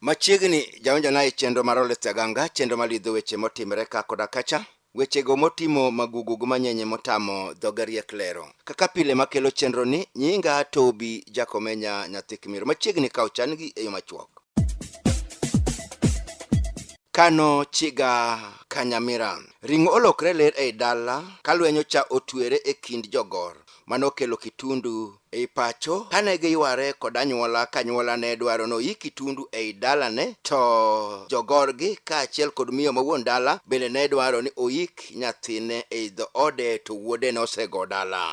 Machiegni jaonjona e chenro mar Oleth Aganga, chenro malidho weche motimre ka koda kacha. Wechego motimo magugu gi manyenye motamo dhoge riek lero. Kaka pile makelo chenroni, nyinga Tobi Jakomenya nyathi Kimiru machiegni ka ochan-gi e yo machuok. Kano chiga Kanyamira. Ring'o olokre ler ei dala ka lwenyo cha otwere e kind jogor. Mano okelo kitundu Ei pacho, kane giyware kod anyuola kanyuola ne dwaro noyik Kitundu ei dalane, to jogorgi kaachiel kod miyo ma wuon dala bende ne dwaro ni oyik nyathine ei dhoode to wuode nosego dala.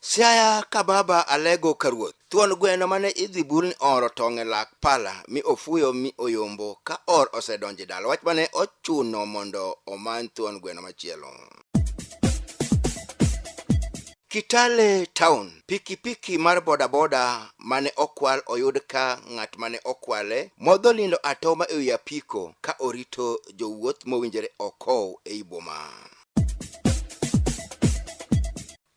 Siaya ka Baba Alego ka ruoth. Thuon gweno mane idhi bulni ooro tong' e lak pala mi ofuyo mi oyombo ka or osedonjo e dala. Wach mane ochuno mondo omany thuon gweno machielo. Kitale Town, pikipiki mar bodaboda mane okwal oyud ka ng'at mane okwale modho lindo atoma e wi apiko ka orito jowuoth mowinjore okow ei boma.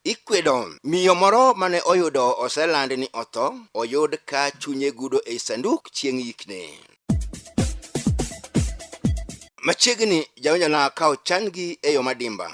Ikwedo miyo moro mane oyudo oseland ni otho oyud ka chunye gudo ei sanduk chieng' yikne. Machiegni jaonjona ka ochan-gi e yo madimba.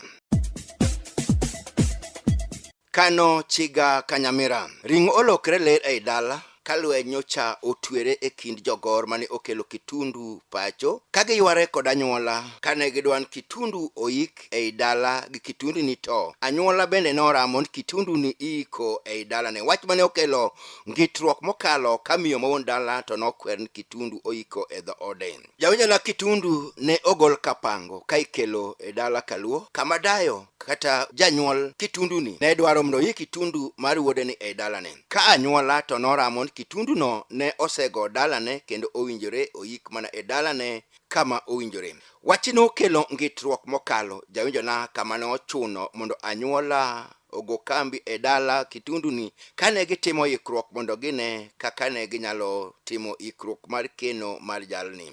Kano chiga ka nyamira. Ring'o olokre ler ei dala, ka lweny nyocha otwere e kind jogor mane okelo Kitundu pacho ka giyware kod anyuola kane gidwan Kitundu oik ei dala gi Kitundu ni to anyuola bende noramo ni Kitundu ni iiko ei dala ne wach mane okelo ngitruok mokalo ka miyo ma wuon dala to nokwer ni Kitundu oiko e dhoode. Jawinjona kitundu ne ogol kapango ka ikelo e dala kaluo kama dayo kata janyuol kitunduni ne dwaro mondo yi kitundu mar wuodeni e dalane ka anyuola to noramo ni kitunduno ne osego dalane kendo owinjore oyik mana e dalane kama owinjore wachni nokelo ngitruok mokalo jawinjona kama ne ochuno mondo anyuola ogo kambi e dala Kitunduni kane gitimo ikruok mondo gine kaka ne ginyalo timo ikruok mar keno mar jalni.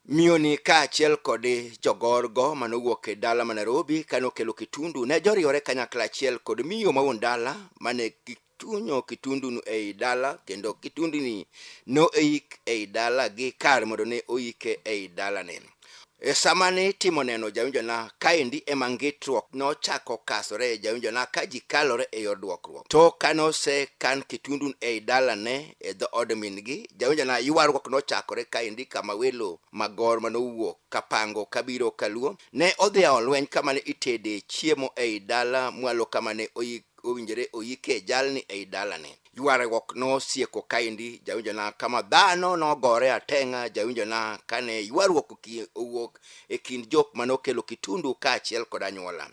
Miyoni kaachiel kod jogorgo manowuok e dala ma Nairobi kane okelo Kitundu ne joriwore kanyakla achiel kod miyo ma wuon dala mane gitunyo Kitundunu ei dala kendo Kitunduni noik ei dala gi kar mondo ne oike ei dalane. E sama ne itimo neno jawinjona kaendi ema ngitruok nochako kasore e jawinjona ka ji kalore e yor duokruok. To kane osekan kitundun ei dalane e dho od min-gi, jawinjona ywaruok nochakore kaendi kama welo magor mane owuok kapango kabiro kaluo ne odhi ao lweny kama ne itede chiemo ei dala mwalo kama ne oyik owinjore oyike jalni ei dalane. ywaruok nosieko kaendi jawinjona kama dhano nogore ateng'a jawinjona kane ywaruok oki- owuok e kind jok mane okelo kitundu kaachiel kod anyuola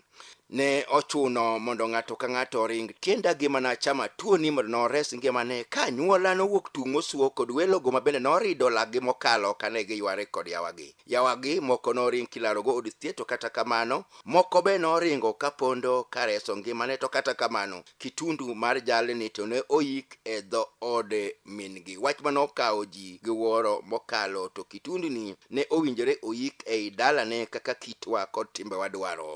ne ochuno mondo ng'ato ka ng'ato oring tienda gi mana chama tuoni mondo nores ngimane ka anyuola nowuok tung' mosuo kod welogo ma bende norido laggi mokalo kane giyware kod yawagi Yawagi moko noring kilarogo od thieth to kata kamano moko be noringo ka pondo ka reso ngimane to kata kamano kitundu mar jalni to ne oyik e dho od min-gi. Wach ma nokawo ji gi wuoro mokalo to kitunduni ne owinjore oyik ei dalane kaka kitwa kod timbewa dwaro.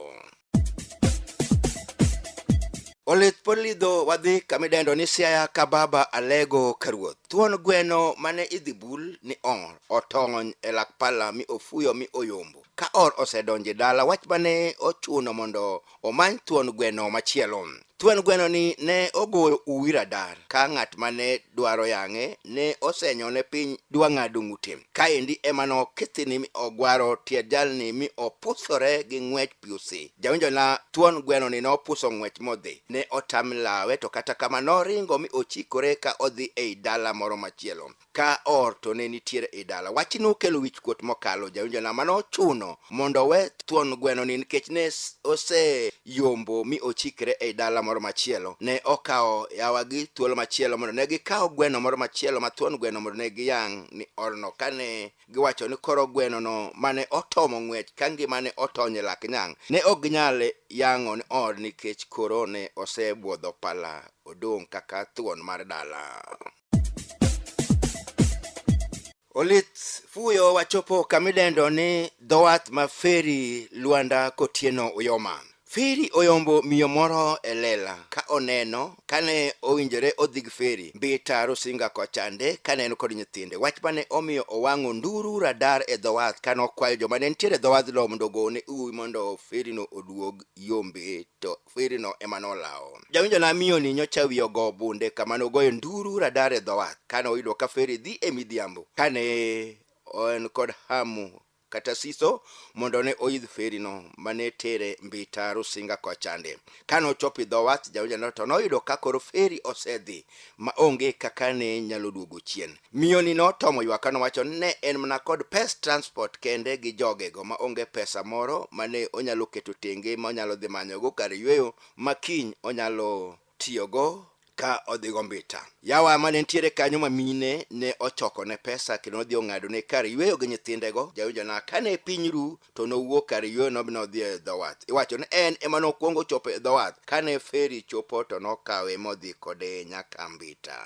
olit pod lidho wadhi kama idendo ni siaya ka baba alego ka ruoth thuon gweno mane idhi bul ni ong'ol otong'ony e lak pala mi ofuyo mi oyombo ka or osedonjo e dala wach mane ochuno mondo omany thuon gweno machielo Thuon gwenoni ne ogoyo uwi radar ka ng'at ma ne dwaro yang'e ne osenyone piny dwa ng'ado ng'ute. Kaendi ema nokithini mi ogwaro tiend jalni mi opusore gi ng'wech piusi. Jawinjona, thuon gwenoni nopuso ng'wech modhi. Ne otam lawe to kata kamano noringo mi ochikore ka odhi ei dala moro machielo. ka or to ne nitiere i dala. Wachni nokelo wichkuot mokalo jawinjona ma nochuno mondo owe thuon gwenoni nikech ne s- oseyombo mi ochikre ei dala moro machielo. Ne okawo yawagi thuolo machielo mondo ne gikaw gweno moro machielo ma thuon gweno mondo ne giyang' ni orno kane giwacho ni koro gwenono mane otomo ng'wech ka ngimane otony e lak nyang' ne ok ginyal yang'o ni or nikech koro ne osebwodho pala odong' kaka thuon mar dala. olit fuyo wachopo kamidendo ni dhowath ma feri lwanda kotieno uyoma feri oyombo miyo moro e lela ka oneno kane owinjore odhig feri mbita rusinga kochande kane en kod nyithinde wach mane omiyo owang'o nduru radar e dhowath kane okwayo joma ne nitiere e dhowadhno mondo ogone uwi mondo ferino oduog yombe to kwerino ema nolawo. Jawinjo na miyo ni nyocha wiye ogo bunde kama nogoyo nduru radar e dho wath kane oyudo ka feri dhi e midhiambo kane en kod hamu kata siso mondo ne oidh ferino mane tere mbita rusinga kochande kane ochopo idho wath jawinjano to noyudo ka koro feri osedhi ma onge kaka ne nyalo duogo chien Miyoni notomo ywak ka nowacho ni ne en mana kod pes transport kende gi jogego ma onge pesa moro ma ne onyalo keto tenge ma onyalo dhi manyogo kar yueyo ma kiny onyalo tiyogo ka odhigo mbita. Yawa ma ne nitiere kanyo ma mine ne ochokone pesa kendo nodhi ong'adone kar yueyo gi nyithindego, jawinjona ka ne piny ru to nowuok kar yueyono mi nodhi e dho wath. Iwacho ni en ema nokwongo ochopo e dho wath, ka ne feri chopo to nokawe modhi kode nyaka Mbita.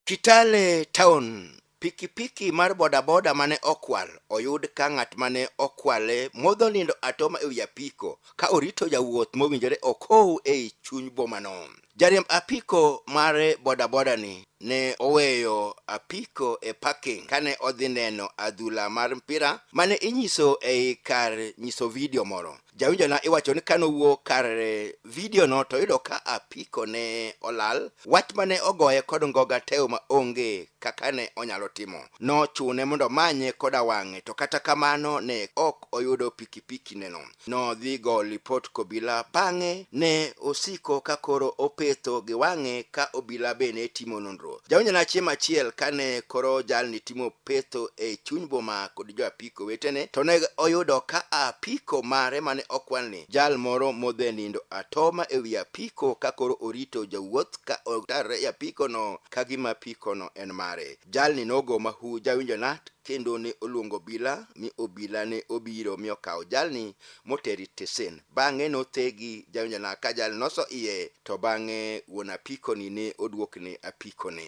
Kitale Town pikipiki mar bodaboda mane okwal oyud ka ng'at mane okwale modho nindo atoma e wi apiko ka orito jawuoth mowinjore okow ei chuny bomano jariemb apiko mar bodaboda ni ne oweyo apiko e parking kane odhi neno adhula mar mpira mane inyiso ei kar nyiso vidio moro jawinjona iwacho ni kane owuo kar eh, vidiono to yudo ka apiko ne olal wach mane ogoye kod ngoga teo ma onge kaka ne onyalo timo nochune mondo omanye koda wang'e to kata kamano ne ok oyudo pikipiki neno nodhi go lipot kobila bang'e ne osiko ka koro opetho gi wang'e ka obila be ne timo nonro jawinjona chieng' achiel kane koro jalni timo petho e chuny boma kod jo apiko Kowetene to ne oyudo ka apiko mare mane okwan ni jal moro modhe nindo atoma e wi apiko ka koro orito jawuoth ka otarre e apikono ka gima apikono en mare. Jalni nogo mahu jawinjo nat kendo ne oluongo obila mi obila ne obiro mi okawo jalni moteri tesen. Bang'e nothegi jawinjo nat ka jalni noso iye to bang'e wuon apikoni ne oduokne apikone.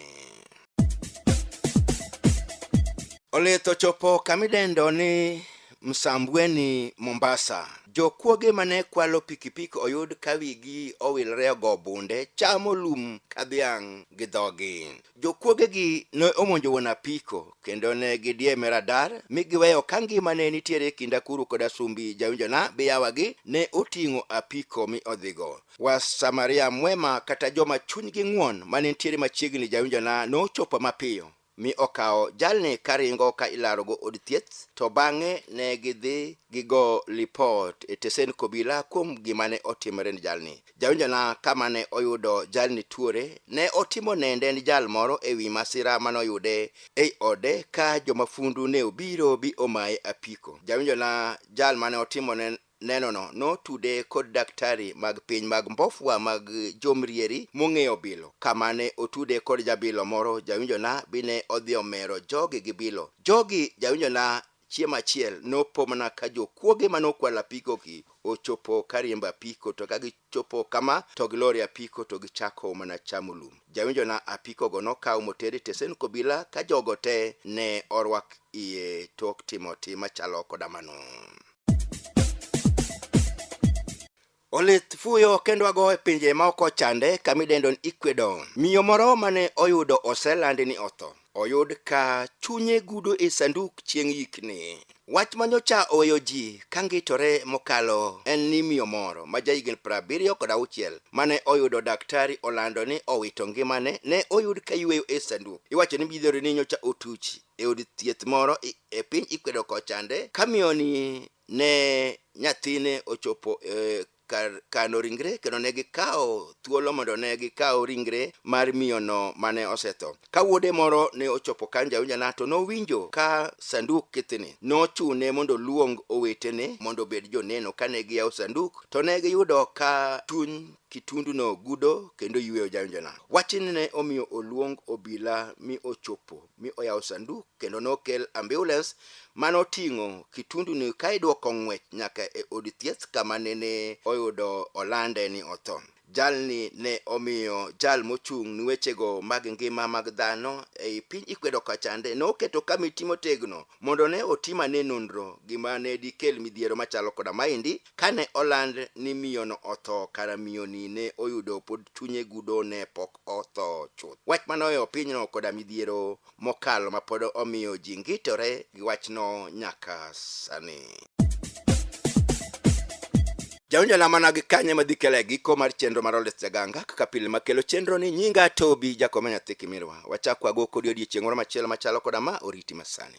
Olitho chopo kamidendo ni Msambweni, Mombasa. Jokuoge mane kwalo pikipiki oyud ka wigi owilre ogo bunde chamo lum ka dhiang' gi dhogi. Jokuogegi ne omonjo wuon apiko kendo ne gidieme radar mi giweyo ka ngima ne nitiere e kind akuru koda sumbi jawinjona biyawagi ne oting'o apiko mi odhigo. Wasamaria mwema kata joma chunygi ng'won ma ne nitiere machiegni jawinjona nochopo mapiyo mi okawo jalni karingo ka ilarogo od thieth to bang'e ne gidhi gigo lipot e tesend kobila kuom gima ne otimore ni jalni. Jawinjona kama ne oyudo jalni tuore ne otimo nende ni jal moro e wi masira ma noyude ei ode ka jomafundu ne obiro bi omaye apiko. Jawinjona jal mane otimone Nenono notude kod daktari mag piny mag mbofwa mag jomrieri mong'eyo bilo. Kama ne otude kod jabilo moro jawinjona bine odhi omero jogi gi bilo. Jogi jawinjona chiemo achiel nopo mana ka jokuoge manokwalo apikoki ochopo kariembo apiko to ka gi Chopo kama to gilor e apiko to gichako mana chamo lum. Jawinjona apikogo nokaw moter e tesend obila ka jogo te ne orwak iye tok timo tim machalo koda mano. Olith fuyo kendo ago e pinje ma oko chande kama idendo ni Ecuador. Miyo moro mane oyudo oselandi ni otho. oyud ka chunye gudo e sanduk chieng' yikni. Wach ma nyocha oweyo ji ka ngitore mokalo en ni miyo moro ma jahigni prabiriyo kod auchiel mane oyudo daktari olando ni owito ngimane ne oyud ka yueyo e sanduk. Iwacho ni midhiero ni nyocha otuch e od thieth moro e piny Ecuador kochande ka miyoni ne nyathine ochopo e kar kano ringre kendo ne gikawo thuolo mondo ne gikaw ringre mar miyono mane osetho. Ka wuode moro ne ochopo kan jaunjana to nowinjo ka sanduk kithni. Nochune mondo oluong owetene mondo obed joneno. Kane giyawo sanduk to ne giyudo ka chuny kitunduno gudo kendo yweyo jaunjana. Wachni ne omiyo oluong obila mi ochopo mi oyawo sanduk kendo nokel ambulans mane oting'o kitunduni ka idwoko ng'wech nyaka e od thieth kama nene oyudo olande ni otho. Jalni ne omiyo jal mochung' ni wechego mag ngima mag dhano ei piny Ecuador kachande ne oketo kamiti motegno mondo ne otim ane nonro gima ne dikel midhiero machalo koda maendi Kane oland ni miyono otho, kara miyoni ne oyudo pod chunye gudo ne pok otho chuth. Wach ma noweyo pinyno koda midhiero mokalo ma pod omiyo ji ngitore gi wachno nyaka sani. Jaonjo lamana gi kanye ma dhi kele giko mar chenro mar Oldest Jaganga kaka pile makelo chenro ni nyinga Tobi Jakome nyathi Kimirwa. Wachak wago kodi odiechieng' moro machielo machalo koda ma oriti masani.